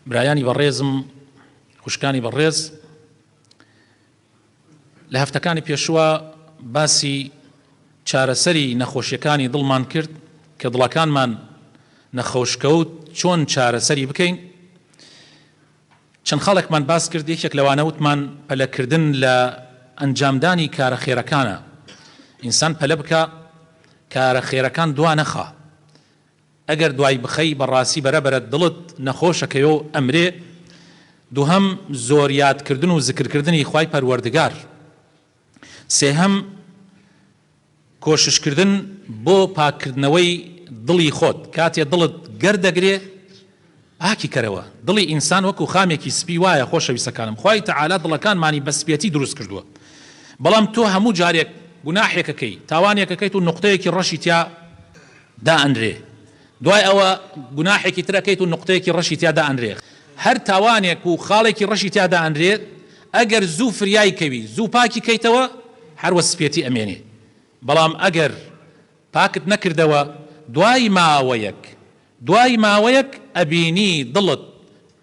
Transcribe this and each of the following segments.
برایانی بەڕێزم خوشکانی بەڕێز لە هەفتەکانی پێشوە باسی چارەسەری نەخۆشیەکانی دڵمان کرد کە دڵەکانمان نەخۆشکەوت چۆن چارەسەری بکەین چەند خاڵێکمان باس کرد یەکێک لەوانەوتمان پەلەکردن لە ئەنجامدانی کارە خێرەکانە ئینسان پەلە بکە کارە خێرەکان دوانەخە ئەگەر دوای بخەی بەڕاسی بەرە بەرە دڵت نەخۆشەکەیۆ ئەمرێ دوهەم زۆر یاد کردن و زکر کردنی خوای پەروەردگار سێهەم کۆشش کردن بۆ پاک کردنەوەی دڵی خۆت کاتێ دڵت گەر دەگرێ پاکی کەرەوە دڵی ئینسان وەکو خامێکی سپی وایە خۆشەویستەکانم خوای تەعالا دڵەکانمانی بە سپێتی دروست کردووە بەڵام تۆ هەموو جارێک گوناحێک ئەکەی تاوانێک ئەکەیت و نوقتەیەکی ڕەشی تیا دائەنرێ دوای ئەوە گوناحێکی تر ئەکەیت و نوقتەیەکی ڕەشی تیا دائەنرێ هەر تاوانێک و خاڵێکی ڕەشی تیا دائەنرێت ئەگەر زوو فریای کەوی زوو پاکی کەیتەوە هەروە سپێتی ئەمێنێ بەڵام ئەگەر پاکت نەکردەوە دوای ماوەیەک دوای ماوەیەک ئەبینی دڵت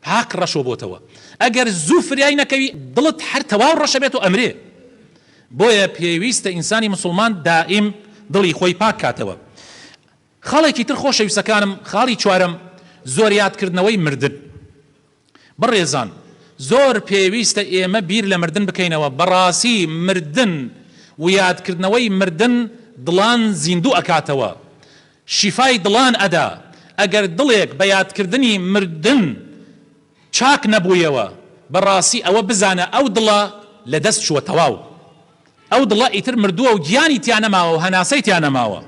پاک ڕەشۆ بۆتەوە ئەگەر زوو فریای نەکەوی دڵت هەر تەواو ڕەشە بێت و ئەمرێ بۆیە پێویستە ئینسانی مسوڵمان دائیم دڵی خۆی پاک کاتەوە خاڵێکی تر خۆشەویستەکانم خاڵی چوارەم زۆر یاد کردنەوەی مردن. بەڕێزان زۆر پێویستە ئێمە بیر لە مردن بکەینەوە بەڕاسی مردن ویادکردنەوەی مردن دڵان زیندوو ئەکاتەوە شیفای دڵان ئەدا ئەگەر دڵێک بە یادکردنی مردن چاک نەبوویەوە بەڕاسی ئەوە بزانە ئەو دڵە لە دەست چووە تەواو ئەو دڵە ئیتر مردووە و گیانی تیا نەماوە و هەناسەی تیا نەماوە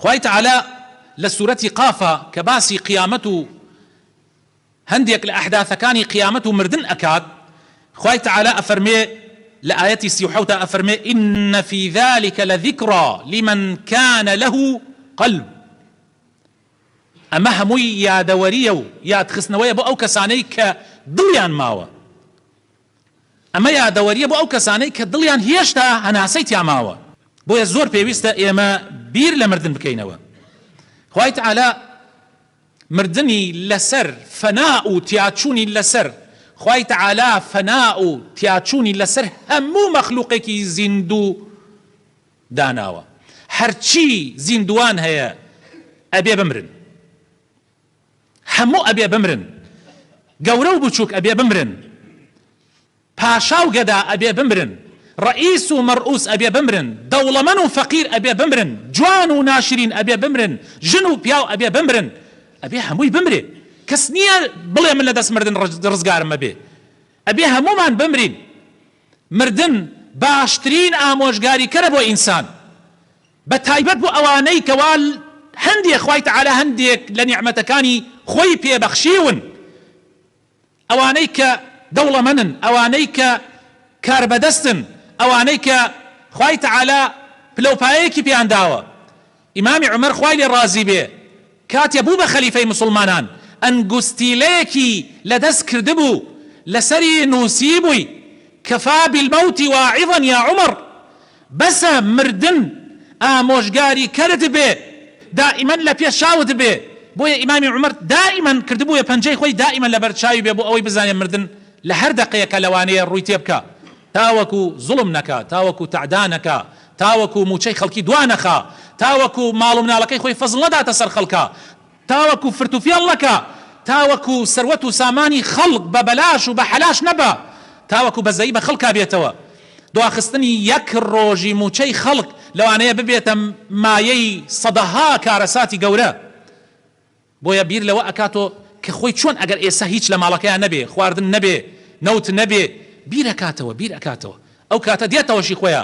خوای تەعالا لە سورەتی قافا کە باسی قیامەت و هەندێک لە ئەحداثەکانی قیامەت و مردن ئەکات، خوای تەعالا ئەفەرموێ لە ئایەتی سی و حەوتا ئەفەرموێ، ان فی ذلک لذکری لمن کان له قلب ئەمە هەمووی یادەوەریە و یادخستنەوەیە بۆ ئەو کەسانەی کە دڵیان ماوە ئەمە یادەوەریە بۆ ئەو کەسانەی کە دڵیان هێشتا هەناسەی تیا ماوە بۆیە زۆر پێویستە ئێمە بیر لە مردن بکەینەوە خوای تەعالا مردنی لەسەر فەنا و تیاچوونی لەسەر، خوای تەعالا فەنا و تیاچوونی لەسەر هەموو مەخلووقێکی زیندوو داناوە، هەرچی زیندووان هەیە ئەبێ بمرن، هەموو ئەبێ بمرن، گەورە و بچووک ئەبێ بمرن، پاشا و گەدا ئەبێ بمرن، ڕەئیس و مەڕئوس ئەبێ بمرن، دەوڵەمەن و فەقیر ئەبێ بمرن، جوان و ناشرین ئەبێ بمرن، ژن و پیاو ئەبێ بمرن، ئەبێ هەمووی بمرێ، کەس نییە بڵێ من لە دەست مردن ڕزگارم ئەبێ، ئەبێ هەموومان بمرین، مردن باشترین ئامۆژگاریکەرە بۆ ئینسان، بە تایبەت بۆ ئەوانەی کەوا هەندێ خوای تەعالا هەندێک لە نیعمەتەکانی خۆی پێ بەخشیون، ئەوانەی کە دەوڵەمەنن، ئەوانەی کە کاربەدەستن، ئەوانەی کە خوای تەعالا پلەوپایەیەکی پێیان داوە، ئیمامی عومەر خوای لێ ڕازی بێ کاتێ بوو بە خەلیفەی موسڵمانان ئەنگوستیلەیەکی لە دەست کردبوو لەسەری نووسیبووی، کفا بالموت واعظا یا عمر، بەسە مردن ئامۆژگاری کەرت بێ دائیمەن لە پێ چاوت بێ بۆیە ئیمامی عومەر دائیمەن کردبوویە پەنجەی خۆی دائیمەن لەبەر چاوی بێ بۆ ئەوەی بزانێ مردن لە هەر دەقەیەکە لەوانەیە ڕووی تێ بکا تاوەکو زوڵم نەکا تاوەکو تەعدا نەکا تاوەکو مووچەی خەڵکی دوا نەخا تاوەکو ماڵ و مناڵەکەی خۆی فەزڵ نەداتە سەر خەڵکا تاوەکو فرت و فێڵ نەکا، تاوەکو سەروەت و سامانی خەڵک بە بەلاش و بە حەلاش نەبا، تاوەکو بەزەیی بە خەڵکا بێتەوە، دواخستنی یەک ڕۆژی مووچەی خەڵک لەوانەیە ببێتە مایەی سەدەها کارەساتی گەورە، بۆیە بیر لەوە ئەکاتۆ کە خۆی چۆن ئەگەر ئێستا هیچ لە ماڵەکەیا نەبێ، خواردن نەبێ، نەوت نەبێ، بیر ئەکاتەوە، بیر ئەکاتەوە، ئەو کاتە دێتەوە شی خۆیا.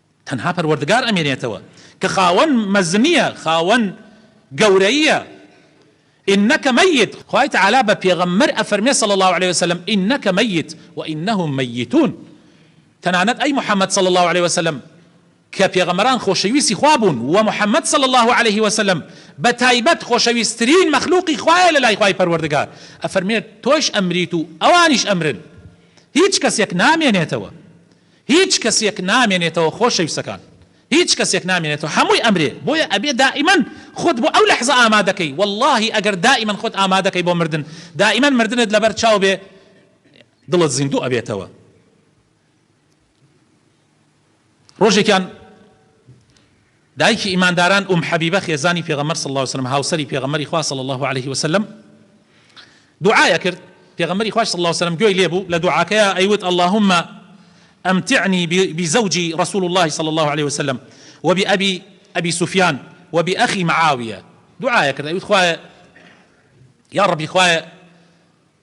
تەنها پەروەردگار ئەمێنێتەوە کە خاوەن مەزنیە خاوەن گەورەییە، انک میت، خوای تەعالا بە پێغەمبەر ئەفەرمێ صلی اللە علیە وسلم انک میت و انهم میتون تەنانەت ئەی محمد صلی اللە علیە وسلم کە پێغەمبەران خۆشەویستی خوا بوون وە محمد صلی اللە علیە وسلم بە تایبەت خۆشەویسترین مەخلوقی خوایە لەلای خوای پەروەردگار ئەفەرمێت تۆش ئەمریت و ئەوانیش ئەمرن هیچ کەسێک نامێنێتەوە هیچ کەسێک نامێنێتەوە خۆشەویستەکان هیچ کەسێک نامێنێتەوە هەمووی ئەمرێ بۆیە ئەبێ دائیمەن خۆت بۆ ئەو لەحزە ئامادەکەی وەڵاهی ئەگەر دائیمەن خۆت ئامادەکەی بۆ مردن دائیمەن مردنت لەبەر چاو بێ دڵت زیندوو ئەبێتەوە ڕۆژێکیان دایکی ئیمانداران ئوم حەبیبە خێزانی پێغەمبەر صلی اللە علیە وسلم هاوسەری پێغەمبەری خوا صلی اللە علیە وسلم دوعای ئەکرد پێغەمبەری خواش صلی اللە علیە وسلم گوێی لێبوو لە دوعاکەیا ئەیوت اللهم امتعنی بزوجی رسول اللە صلی اللە علیە وسلم وبأبی ابی سفیان وبأخی معاویە دوعای ئەکرد ئەیوت خوایە یا ربی خوایە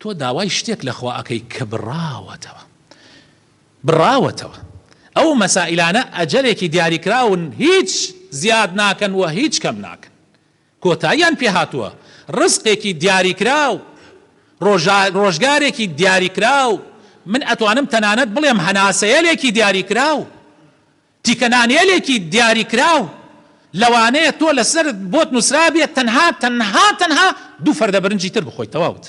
تۆ داوای شتێک لە خوا ئەکەی کە بڕاوەتەوە بڕاوەتەوە ئەو مەسائیلانە ئەجەلێکی دیاریکراون هیچ زیاد ناکەن و هیچ کەم ناکەن کۆتاییان پێ هاتووە ڕزقێکی دیاریکراو ڕۆژا ڕۆژگارێکی دیاریکراو من ئەتوانم تەنانەت بڵێم هەناسەیەلێکی دیاریکراو تیکەنانێلێکی دیاریکراو لەوانەیە تۆ لەسەرت بۆت نوسرابێت تەنها تەنها تەنها دوو فەردە برنجی تر بخۆیت تەواوت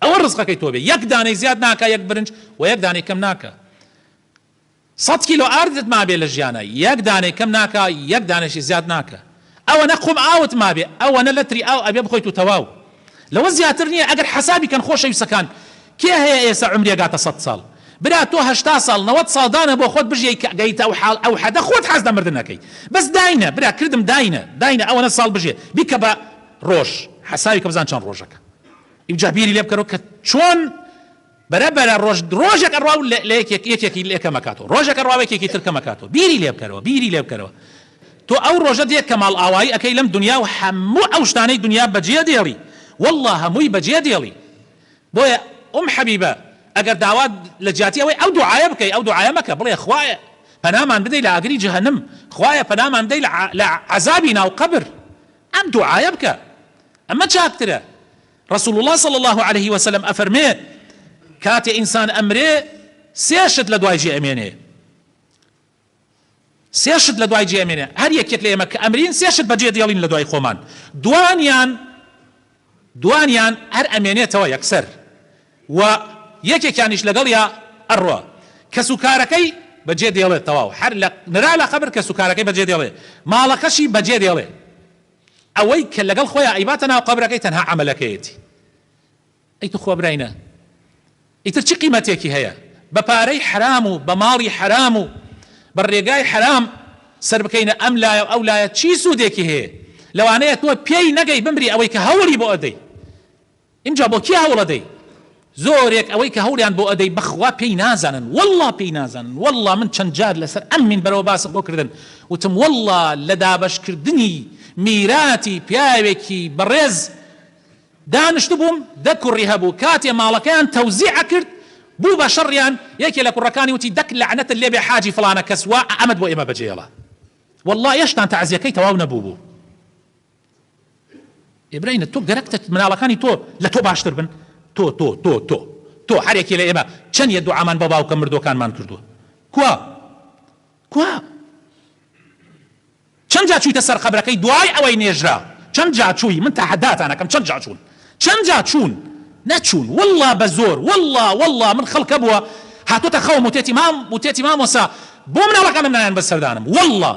ئەوە رزقەکەی تۆ بێت یەک دانەی زیاد ناکا یەک برنج وە یەک دانەی کەم ناکا سەد کیلۆ ئاردت مابێت لە ژیانا یەک دانەی کەم ناکا یەک دانەشی زیاد ناکا ئەوەنە قوم ئاوت مابێ ئەوەنە لەتری ئاو ئەبێ بخۆیت و تەواو لەوە زیاتر نیە ئەگەر حەسابی کەن خۆشەویسەکان کێ هەیە ئێسە عومری ئەگاتە سەد ساڵ برا تۆ هەشتا ساڵ نەوەد ساڵ دانە بۆ خۆت بژیەی کە گەیتە ئەو حاڵ ئەو حەدە خۆت حەز لە مردن ئەکەی بەس داینە برا کردم داینە داینە ئەوەنە ساڵ بژیە بیکە بە ڕۆژ حەسابی کە بزان چەن ڕۆژەکە ئیوجا بیری لێ بکەرەوە کە چۆن بەرە بەرە ڕۆژ ڕۆژێک ئەڕوا و لە یەکێک یەکێکی لێ کەم ئەکاتەوە ڕۆژێک ئەڕوا و یەکێکی تر کەم ئەکاتەوە بیری لێ بکەرەوە بیری لێ بکەرەوە تۆ ئەو ڕۆژە دێ کە ماڵئاوایی ئەکەی لەم دونیا و هەموو ئەو شتانەی دونیا بەجێ دێڵی وەڵڵا هەمووی بەجێ دێڵی بۆیە ئوم حەبیبە ئەگەر داوات لە جیاتی ئەوەی ئەو دوعایە بکەی ئەو دوعایە مەکە بڵێ خوایە پەنامان بدەی لە ئاگری جەهەنم خوایە پەنامان بدەی لە عە لە عەزابی ناو قەبر ئەم دوعایە بکە ئەمە چاکترە رسول اللە صلی اللە علیە وسلم ئەفەرمێ، کاتێ ئینسان ئەمرێ سێ شت لە دوای جێ ئەمێنێ، سێ شت لە دوای جێ ئەمێنێ، هەر یەکێک لە ئێمە کە ئەمرین سێ شت بەجێ دێڵین لە دوای خۆمان، دوانیان دوانیان هەر ئەمێنێتەوە یەکسەر و یەکێکیانیش لەگەڵیا ئەڕوا کەس و کارەکەی بەجێ دێڵێت، تەواو هەر لە نرا لە قەبر کەس و کارەکەی بەجێ دێڵێ، ماڵەکەشی بەجێ دێڵێ. ئەوەی کە لەگەڵ خۆیا ئەیباتە ناو قەبرەکەی تەنها عەمەلەکەیەتی ئەی توخوا برای نە ئیتر چ قیمەتێکی هەیە بە پارەی حەرام و بە ماڵی حەرام و بە ڕێگای حەرام سەر بکەینە ئەم لایە و ئەو لایە چی سوودێکی هەیە لەوانەیە تۆ پێی نەگەی بمری ئەوەی کە هەوڵی بۆ ئەدەی ئینجا بۆ کێ هەوڵ ئەدەی؟ زۆرێک ئەوەی کە هەوڵیان بۆ ئەدەی بەخوا پێی نازانن واللە پێی نازانن واللە من چەند جار لەسەر ئەم مینبەرەوە باسم بۆ کردن وتم واللە لە دابەش کردنی میراتی پیاوێکی بەڕێز دانشتبووم دە کوڕی هەبوو کاتێ ماڵەکەیان تەوزیع ئەکرد بوو بە شەڕیان یەکێ لە کوڕەکانی وتی دەک لەعنەتت لێبێ حاجی فڵانە کەس وا ئەمەت بۆ ئێمە بەجێڵا واللە ئێشتان تەعزیەکەی تەواو نەبووبوو ئێ برینە تۆ گەرەکتە مناڵەکانی تۆ لە تۆ باشتر بن؟ تۆ تۆ تۆ تۆ تۆ هەرێکێ لە ئێمە چەن یە دوعامان بۆ باوکە مردوەکانمان کردوە کوا کوا چەن جا چویتە سەر قەبرەکەی دوای ئەوەی نێژرا چەن جا چوی من تەحەداتان ئەکەم چەن جا چون چەند جا چوون نەچوون واللە بە زۆر واللە واللە من خەڵک هەبووە هاتۆتە خەوم وتێتی مام وتێتی مامۆسا بۆ مناڵەکانم نایەن بەر سەردانم واللە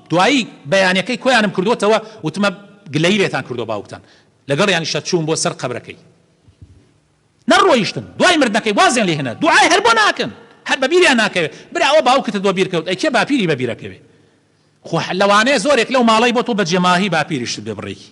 دوایی بەیانەکەی کۆیانم کردۆتەوە وتمە گلەیی لێتان کردوە باوکتان لەگەڵیانیشە چووم بۆ سەر قەبرەکەی نەڕۆیشتن دوای مردنەکەی وازیان لێ هێنا دوعای هەر بۆ ناکەن هەر بە بیریان ناکەوێ برا ئەوە باوکتت بۆ بیر کەوت ئەی کێ باپیری بە بیرەکەوێ خۆ لەوانەیە زۆرێک لەو ماڵەی بۆ تۆ بەجێماهی باپیریشتت بێ بڕێکی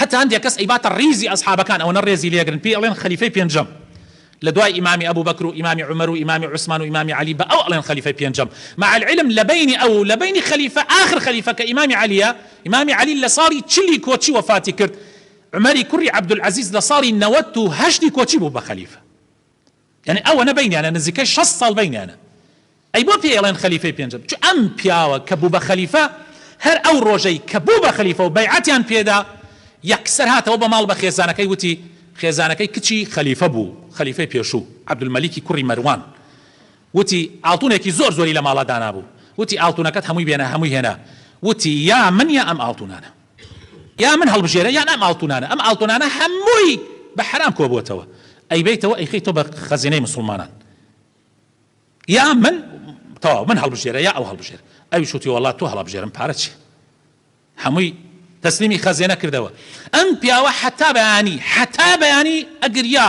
هەتا هەندێک کەس ئەیباتە ڕیزی ئەسحابەکان ئەوەنە ڕێزی لێ ئەگرن پێی ئەڵێن خەلیفەی پێنجەم لە دوای ئیمامی ئەبو بەکر و ئیمامی عومەر و ئیمامی عوسمان و ئیمامی عەلی بە ئەو ئەڵێن خەلیفەی پێنجەم مع العلم لە بەینی ئەو و لە بەینی خەلیفە ئاخر خەلیفە کە ئیمامی عەلیە ئیمامی عەلی لە ساڵی چلی کۆچی وەفاتی کرد عومەری کوڕی عەبدولعەزیز لە ساڵی نەوەت و هەشتی کۆچی بوو بە خەلیفە یانی ئەوەنە بەینیانە نزیکەی شەست ساڵ بەینیانە ئەی بۆ پێی ئەڵێن خەلیفەی پێنجەم چ ئەم پیاوە کە بوو بە خەلیفە هەر ئەو ڕۆژەی کە بوو بە خەلیفە و بەیعەتیان پێدا یەکسەر هاتەوە بە ماڵ بە خێزانەکەی وتی خێزانەکەی کچی خەلیفە بوو خەلیفەی پێشوو عەبدولمەلیکی کوڕی مەروان وتی ئاڵتونێکی زۆر زۆری لە ماڵا دانابوو وتی ئاڵتونەکەت هەمووی بێنە هەمووی هێنا وتی یا من یا ئەم ئاڵتونانە یا من هەڵبژێرە یان ئەم ئاڵتونانە ئەم ئاڵتونانە هەمووی بە حەرام کۆبوەتەوە ئەیبەیتەوە ئەیخەی تۆ بە خەزێنەی مسوڵمانان یا من تەواو من هەڵبژێرە یا ئەو هەڵبژێر ئەوی شوتی وڵات تۆ هەڵبژێرم پارە چی هەمووی تەسلیمی خەزێنە کردەوە ئەم پیاوە حتا بەیانی حتا بەیانی ئەگریا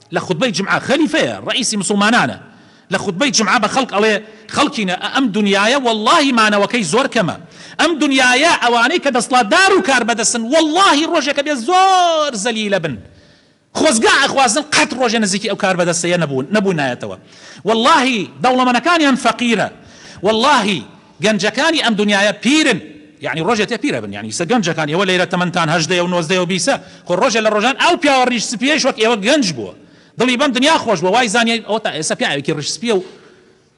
لە خوتبەی جومعە خەلیفەیە ڕەئیسی موسڵمانانە لە خوتبەی جومعە بە خەڵک ئەڵێ خەڵکینە ئە ئەم دونیایە وەڵاهی مانەوەکەی زۆر کەمە ئەم دونیایە ئەوانەی کە دەسڵاتدار و کاربەدەستن وەڵاهی ڕۆژێک ئەبێ زۆر زەلیلە بن خۆزگا ئەخوازن قەت ڕۆژێ نزیکی ئەو کاربەدەستەیە نەبوون نەبوونایەتەوە وەڵاهی دەوڵەمەنەکانیان فەقیرە وەڵاهی گەنجەکانی ئەم دونیایە پیرن یانی ڕۆژێ تێ پیرە بن یانی ئیسە گەنجەکان ئێوە لەیرە تەمەنتان هەژدەیە و نۆزدەیە و بیسە خۆ ڕۆژێ لە ڕۆژان ئەو پیاوە ڕیش سپیەیش وەک ئێوە گەنج بووە دڵی بەم دونیا خۆش بووە وای زانیە ئەوە تا ئێسە پیاوێکی ڕیش سپیە و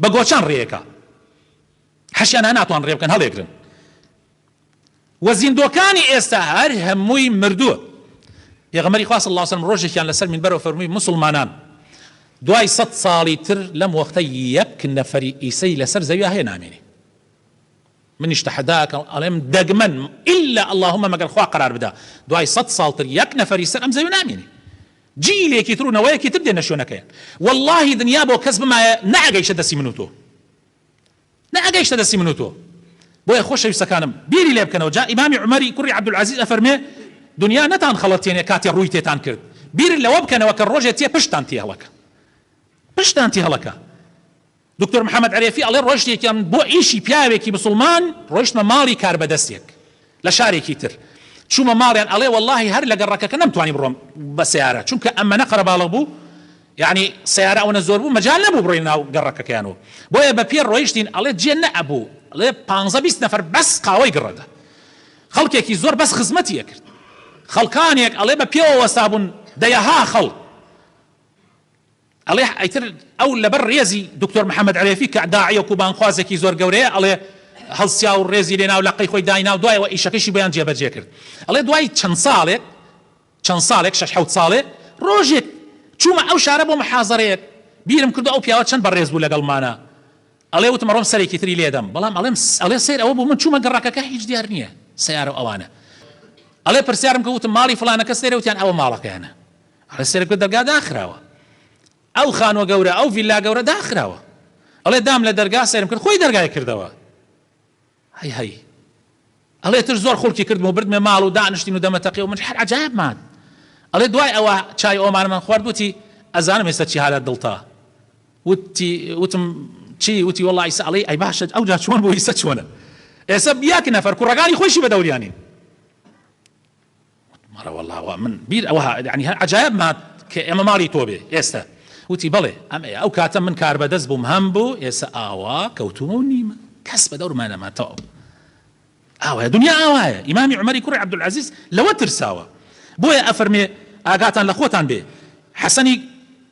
بە گۆچان ڕێیەکە حەشیان ها ناتوان ڕێ بکەن هەڵێگرن وە زیندووەکانی ئێستا هەر هەمووی مردووە پێغەمبەری خوا صلی اللە علیە وسلم ڕۆژێکیان لەسەر مینبەرەوە فەرمووی موسڵمانان دوای سەد ساڵی تر لەم وەختە یەک نەفەری ئیسەی لەسەر زەویا هەیە نامێنێ منیش تەحەداکەم ئەڵێم دەگمەن ئللا اللهم مەگەر خوا قەرار بدا دوای سەد ساڵتر یەک نەفەری سەر ئەم زەوی نامێنێ جیلێکی تر و نەوەیەکی تر دێنە شوێنەکەیان واللهی دنیا بۆ کەس بمایە نەئەگەیشتە دەستی من و تۆ نەئەگەیشتە دەستی من و تۆ بۆیە خۆشەویستەکانم بیری لێ بکەنەوە جا ئیمامی عومەری کوڕی عەبدولعەزیز ئەفەرموێ دونیا نەتان خەڵەتێنێ کاتێ ڕووی تێتان کرد بیر لەوە بکەنەوە کە ڕۆژێ تێ پشتتان تێ هەڵەکا پشتتان تێ هەڵەکا دکتۆر محمد عرێفی ئەڵێ ڕۆژێکیان بۆ ئیشی پیاوێکی مسوڵمان ڕۆیشتمە ماڵی کاربەدەستێک لە شارێکی تر چومە ماڵیان ئەڵێ وەڵاهی هەر لە گەڕەکەکە نەمتوانی بڕۆم بە سەیارە چونکە ئەمەنە قەرەباڵغ بوو یانی سەیارە ئەوەنە زۆر بوو مەجال نەبوو بڕۆین ناو گەڕەکەکەیان و بۆیە بە پێ ڕۆیشتین ئەڵێ جێ نەئەبوو ئەڵێ پانزە بیست نەفەر بەس قاوەی گڕەدە خەڵکێکی زۆر بەس خزمەتی ئەکرد خەڵکانێک ئەڵێ بە پێوە وەستابوون دەیەها خەڵک ئەڵێ ئیتر ئەو لەبەر ڕێزی دکتۆر محمد عرێفی کە داعیەک و بانگخوازێکی زۆر گەورەیە ئەڵێ هەڵسیا و ڕێزی لێنا و لەقەی خۆی داینا و دوایەوە ئیشەکەشی بۆیان جێبەجێ کرد ئەڵێ دوای چەند ساڵێک چەند ساڵێک شەش حەوت ساڵێ ڕۆژێک چوومە ئەو شارە بۆ محازەرەیەک بیرم کردو ئەو پیاوە چەند بەڕێز بوو لەگەڵمانە ئەڵێ وتم ڕۆم سەرێکی تری لێدەم بەڵام ئەڵێم ئەڵێ سەیر ئەوە بوو من چوومە گەڕەکەکە هیچ دیار نییە سیارە ئەوانە ئەڵێ پرسیارم کە وتم ماڵی فلانە کەس لێرە وتیان ئەوە ماڵەکەیانە ئەڵێ سەرکوت دەرگا داخراوە ئەو خانوە گەورە ئەو ڤیلا گەورە داخراوە ئەڵێ دام لە دەرگا سەرم کرد خۆی دەرگای کردەوە هەی هەی ئەڵێ تر زۆر خڵکی کردم و بردمێ ماڵ و دانیشتین و دەمەتەقی و من هەر عجایب مان ئەڵێ دوای ئەوە چای ئۆمان من خوارد وتی ئەزانم هێستا چی هالە دڵتا وتی وتم چی وتی وڵی ئیسا ئەڵی ئەی باشە ئەو جا چۆن بۆ ئیسە چۆنە ئێسە بیاکە نەفەر کوڕەکانی خۆشی بە دەوریانین مەڵێ وەڵڵا وا من بیر ئەوە هات یانی هەر عەجایەبم هات کە ئێمە ماڵی تۆ بێ ئێستە وتی بەڵێ ئەم ئێ ئەو کاتە من کاربەدەست بووم هەم بوو ئێسە ئاوا کەوتوومە و نیمە کەس بە دەورما نەما تەواو ئاوایە دنیا ئاوایە ئیمامی عومەری کوڕی عەبدولعەزیز لەوە ترساوە بۆیە ئەفەرمێ ئاگاتان لە خۆتان بێ حەسەنی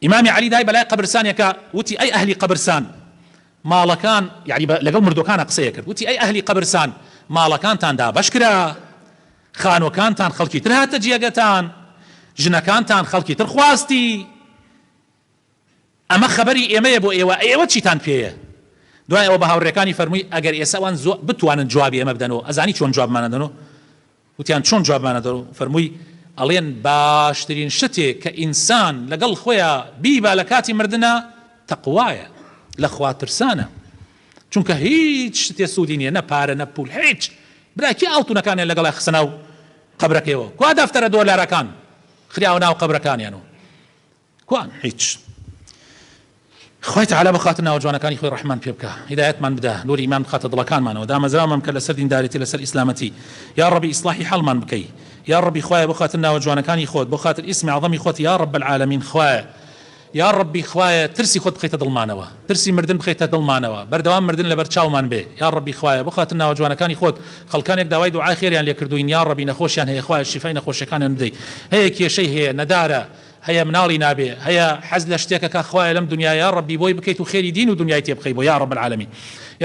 ئیمامی عەلی دای بەلای قەبرسانێکا وتی، ئەی ئەهلی قەبرسان ماڵەکان، یەعنی بە لەگەڵ مردووەکانا قسەی ئەکرد، وتی، ئەی ئەهلی قەبرسان ماڵەکانتان دابەش کرا، خانووەکانتان خەڵکی تر هاتە جێگەتان، ژنەکانتان خەڵکی تر خواستی، ئەمە خەبەری ئێمەیە بۆ ئێوە، ئەی ئێوە چیتان پێیە؟ دوای ئەوە بە هاوڕێکانی فەرمووی، ئەگەر ئێستا وان زۆ بتوانن جوابی ئێمە بدەنۆ، ئەزانی چۆن جوابمان ئەدەنۆ؟ وتیان چۆن جوابمانە دەو فەرمووی ئەڵێن باشترین شتێ کە ئینسان لەگەڵ خۆیا بیبا لە کاتی مردنا تەقوایە لە خوا ترسانە چونکە هیچ شتێ سوودی نیە نە پارە نە پول هیچ برا کێ ئاڵتونەکانیان لەگەڵای خستە ناو قەبرەکەیەوە کوا دەفتەرە دۆلارەکان خراوە ناو قەبرەکانیان و کوان هیچ. خوای تەعالا بە خاتر ناوە جوانەکانی خۆی ڕەحمان پێ بکا هیدایەتمان بدا نوری ئیمان بخاتە دڵەکانمانەوە دامەزراومان بکە لەسەر دینداریتی لەسەر ئیسلامەتی یاڕەبی ئیسڵاحی حاڵمان بکەی یاڕەبی خوایە بۆ خاتر ناوە جوانەکانی خۆت بۆ خاتر ئیسمی عەزەمی خۆت یاڕەب العالمین خوایە یاڕەبی خوایە ترسی خۆت بخەیتە دڵمانەوە ترسی مردن بخەیتە دڵمانەوە بەردەوام مردن لەبەر چاومان بێ یاڕەبی خوایە بۆ خاتر ناوە جوانەکانی خۆت خەڵکانێک داوای دوعای خێریان لێ کردووین یاڕەبی نەخۆشیان هەیە خوایە شیفای نەخۆشەکانیان بدەی هەیە کێشەی هەیە نەدارە هەیە مناڵی نابێ هەیە حەز لە شتێکە کا خوایە لەم دونیایە یاڕەبی بۆی بکەیت و خێری دین و دونیای تێ بخەی بۆ یاڕەب العالمین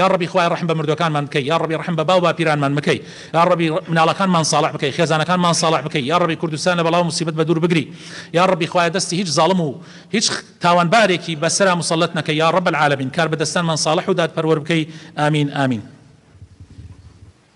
یاڕەبی خوایە ڕەحم بە مردوەکانمان بکەی یاڕەبی ڕەحم بە باو باپیرانمان مکەی یاڕەبی مناڵەکانمان ساڵح بکەی خێزانەکانمان ساڵح بکەی یاڕەبی کوردستان لە بەڵاو موسیبەت بە دوور بگری یاڕەبی خوایە دەستی هیچ زاڵم و هیچ تاوانبارێکی بە سەرا موسەلەت نەکەی یاڕەب العالمین کاربەدەستانمان ساڵح و دادپەروەر بکەی ئامین ئامین.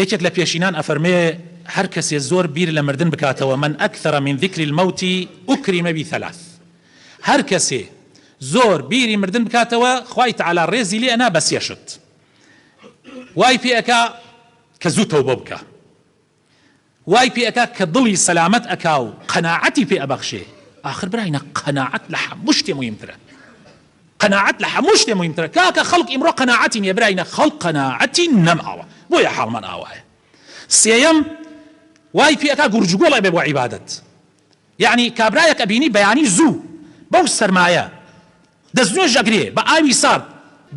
یەکێک لە پێشینان ئەفەرمێ، هەر کەسێ زۆر بیر لە مردن بکاتەوە، من اکثر من ذکر الموت اکرم بثلاث، هەر کەسێ زۆر بیری مردن بکاتەوە خوای تەعالا ڕێزی لێ ئەنا بە سێ شت وای پێ ئەکا کە زوو تەوبە بکا، وای پێ ئەکا کە دڵی سەلامەت ئەکا و قەناعەتی پێ ئەبەخشێ، ئاخر براینە قەناعەت لە هەموو شتێ موهیمترە. قەناعەت لە هەموو شتێ موهیمترە کاکە خەڵک ئیمڕۆ قەناعەتی نیە براینە خەڵک قەناعەتی نەماوە بۆیە حاڵمان ئاوایە سێیەم وای پێ ئەکا گورج و گۆڵ ئەبێ بۆ عیبادەت یەعنی کابرایەک ئەبینی بەیانی زوو بەو سەرمایە دەست نوێژ ئەگرێ بە ئاوی سارد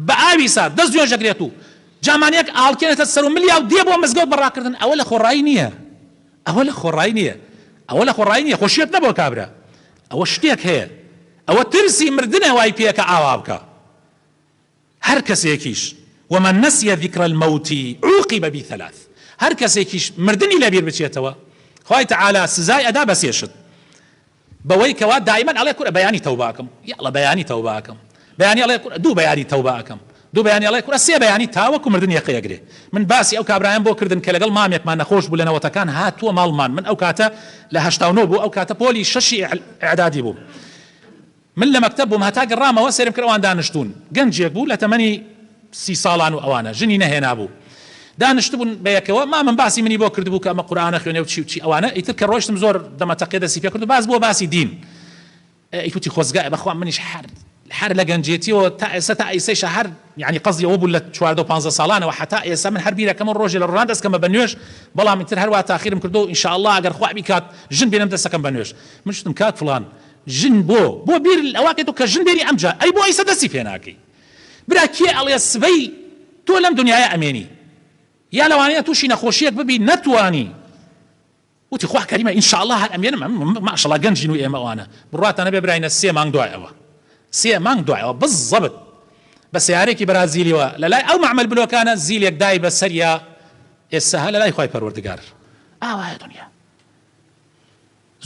بە ئاوی سارد دەست نوێژ ئەگرێت و جامانەیەک ئاڵکێنێتە سەر و ملیا و دێ بۆ مزگەوت بە ڕاکردن ئەوە لە خۆڕایی نییە ئەوە لە خۆڕایی نییە ئەوە لە خۆڕایی نییە خۆشیەت نەبووە کابرا ئەوە شتێک هەیە ئەوە ترسی مردنە وای پێکا ئاوا بکا هەر کەسێکیش ومن نسی ذکر الموت عوقب بثلاث هەر کەسێکیش مردنی لەبیر بچێتەوە خوای تعالی سزای ئەدا بە سێ شت بەوەی کەوا دایمەن ئەڵێ کورە بەیانی تەوبە ئەکەم یاڵە بەیانی تەوبە ئەکەم بەیانی ئەڵێ کورە دوو بەیانی تەوبە ئەکەم دوو بەیانی ئەڵێ کورە سێ بەیانی تاوەکو مردن یەقەی ئەگرێ من باسی ئەو کابرایەم بۆ کردن کە لەگەڵ مامێکمان نەخۆش بوو لە نەوەتەکان هاتووە ماڵمان من ئەو کاتە لە هەشتا و نۆ بوو ئەو کاتە پۆلی شەشی ئیعدادی بووم من لە مەکتەب بووم هەتا گەڕامەوە سێرم کرد ئەوان دانشتوون گەنجێک بوو لە تەمەنی سی ساڵان و ئەوانە ژنی نەهێنابوو دانشتبوون بە یەکەوە مامم باسی منی بۆ کردبوو کە ئەمە قورئانە خوێنێ و چی و چی ئەوانە ئیتر کە ڕۆیشتم زۆر دەمەتەقێ دەستی پێ کرد و باس بووە باسی دین ئیت وتی خۆزگایە بەخوا منیش هەر هەر لە گەنجێتیەوە تا ئێستا تا ئیسەیشا هەر یانی قەزی ئەوە بوو لە چواردەو پانزە ساڵانەوە هەتا ئێسا من هەر بیرەکەمە ڕۆژێ لە ڕۆژان دەسکەمە بە نوێژ بەڵام ئیتر هەر وا تاخیرم کردۆ ان شاء اللە ئەگەر خوا بیکات ژن بێنم دەسەکەم بە نوێژ من شتم کاک فڵان ژن بۆ بۆ بیر ئەوە کەیتۆ کە ژن بێنی ئەمجا ئەی بۆ ئیسە دەسی پێ ناکەی برا کێ ئەڵێ سبەی تۆ لەم دنیایە ئەمێنی یا لەوانەیە توشی نەخۆشیەک ببی نەتوانی وتی خوا کەریمە ان شاء اللە هەر ئەمێنم ئەم ماشەڵا گەنجین و ئێمە ئەوانە بڕواتان نەبێ براینە سێ مانگ دوای ئەوە سێ مانگ دوای ئەوە بزەبت بە سەیارەیەکی بەرازیلیەوە لە لای ئەو مەعمەل بلۆکانە زیلێک دای بە سەریا ئێسە هە لە لای خوای پەروەردگار ئاوایە دونیا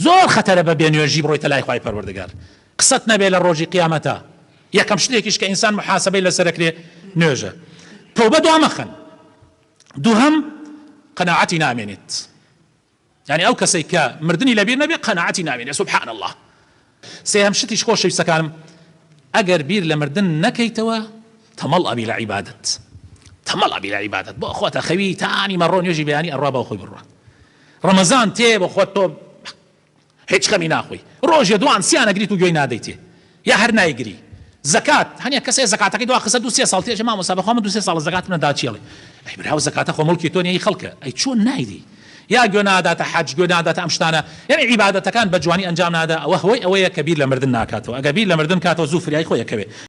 زۆر خەتەرە بە بێ نوێژی بڕۆیتە لای خوای پەروەردگار قسەت نەبێ لە ڕۆژی قیامەتە یەکەم شتێکیش کە ئینسان محاسبەی لەسەرەکرێ نوێژە تۆبە دوا مەخەن دووهەم، قەناعەتی نامێنێت، یانی ئەو کەسەی کە مردنی لەبیر نەبێت قەناعەتی نامێنێت سبحان اللە. سێهەم شتیش خۆشەویستەکانم ئەگەر بیر لە مردن نەکەیتەوە تەمەڵ ئەبی لە عیبادەت تەمەڵ ئەبی لە عیبادەت بۆ خۆت ئەخەوی تا نیمەڕۆ نوێژی بەیانی ئەڕوا با خۆی بڕوا ڕەمەزان تێ بە خۆت تۆ هیچ خەمی ناخۆی ڕۆژێ دوان سیان ئەگریت و گوێی نادەیتێ یا هەر نایگری زەکات هەنێ کەسێ زەکاتەکەی دوا خستە دوو سێ ساڵ تێ چێ مامۆستا بەخوا من دوو سێ ساڵە زەکاتم نەدا چی ئەڵێ ئەی برا زەکاتە خۆ موڵکی تۆ نیە هی خەڵکە ئەی چۆن نایدی یا گوێ ناداتە حەج گوێ ناداتە ئەم شتانە یعنی عیبادەتەکان بە جوانی ئەنجام نادا ئەوە هۆی ئەوەیە کە بیر لە مردن ناکاتەوە ئەگەر بیر لە مردن کاتەوە زوو فریای خۆی ئەکەوێ